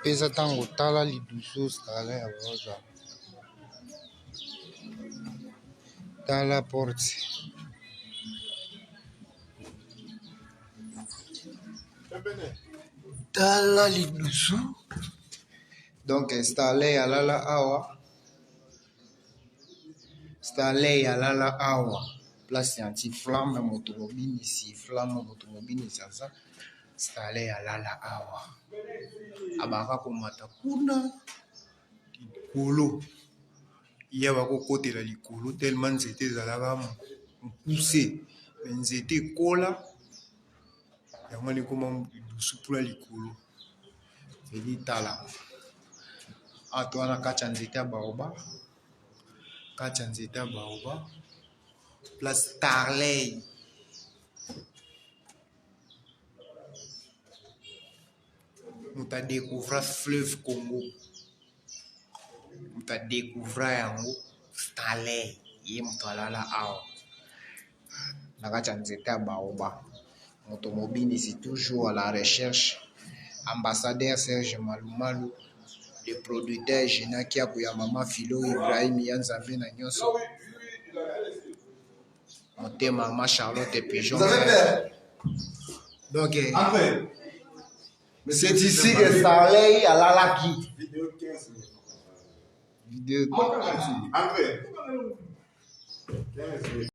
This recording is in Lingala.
peza tango tala lidusu stalin ya rosa tala porte tala lidusu donc stalin alala awa Stanley alala awa place ya anti flamme na moto mobimisi flamme na moto mobimisi aza Stanley alala awa abaka komata kuna likolo ye bakokotela likolo telema nzete ezalaka mokuse me nzete ekola yango ekoma dusupula likolo edi tala ato wana kati ya nzete ya baoba kati ya nzete ya baoba place tarley moto adecouvra fleuve congo moto adecouvra yango stalin ye moto alala awa na kati ya nzete ya baoba moto mobinisi toujours à la recherche ambassadeur serge malumalu le producteur genaki ya koya mama filo ibrahim ya nzambe na nyonso motema ma charlotte pigeon donc eh, c'est ici que starley alalaki video